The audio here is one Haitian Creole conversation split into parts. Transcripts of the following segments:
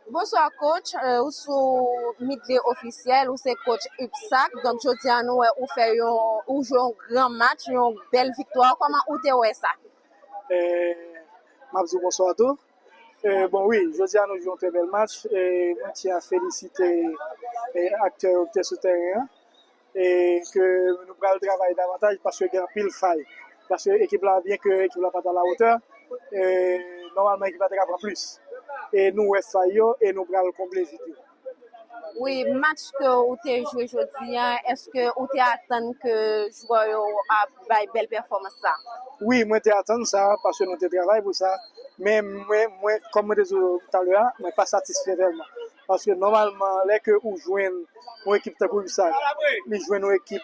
Bonswa coach, euh, ou sou Midley Officiel, ou se coach UPSAC, donc jodi an nou wè ou fè yon, ou jwe yon gran match, yon bèl viktwa, koman ou te wè sa? Euh, map di bonswa tou. Euh, bon oui, jodi an nou jwe yon trè bèl match, e mwen ti a felisite e aktè yo ki te sou tèren an. e ke nou pral travay davantaj paske gen anpil fay paske ekip la byen ke ekip la pat a la wotè e nòmalman ekip la te ka pran plis e nou wè fay yo e nou pral konble vid yo. Wi, match ke ou te jwe jodi an, eske ou te atann ke jwè yo ap bay bèl pèfòmans sa? Wi, mwen te atann sa paske nou te travay pou sa men mwen kòm mwen te di w talè a mwen pa satisfè tèlman. Paske nòmalman lè ke ou jwenn yon ekip tankou UBSAC, li jwenn yon ekip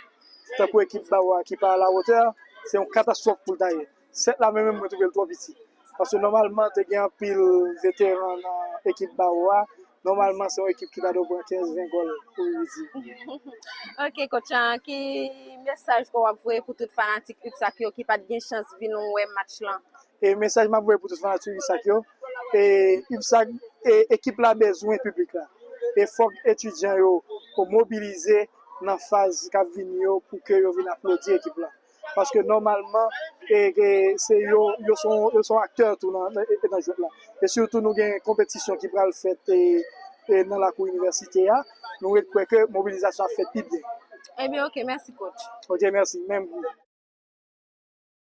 tankou ekip ba ou a ki pa a la wotè, se yon katastwòf pou l ta ye. 7 la menm menm mwen twouve l twò piti. Paske nòmalman te gen anpil veteran nan ekip ba ou a, nòmalman se yon ekip ki ta dwe pran 15, 20 gòl pou Rudy. Ok coach an, ki mesaj ke w ap voye pou tout fanatik UBSAC yo ki pa t gen chans vin wè match lan? E mesaj map voye pou tout fanatik Ysac yo e Ysac e ekip la bezwen piblik la e fòk etidyan yo pou mobilize nan faz kap vini yo pou ke yo vin aplodi ekip la paske nòmalman e ke se yo yo son yo son aktè tou nan nan jwèt la e sitou nou gen konpetisyon ki pral fèt e e nan lakou inivèsite a nou ret kwè ke mobilizasyon ap fèt pi byen. Ebyen ok mèsi coach. Ok mèsi menm pou.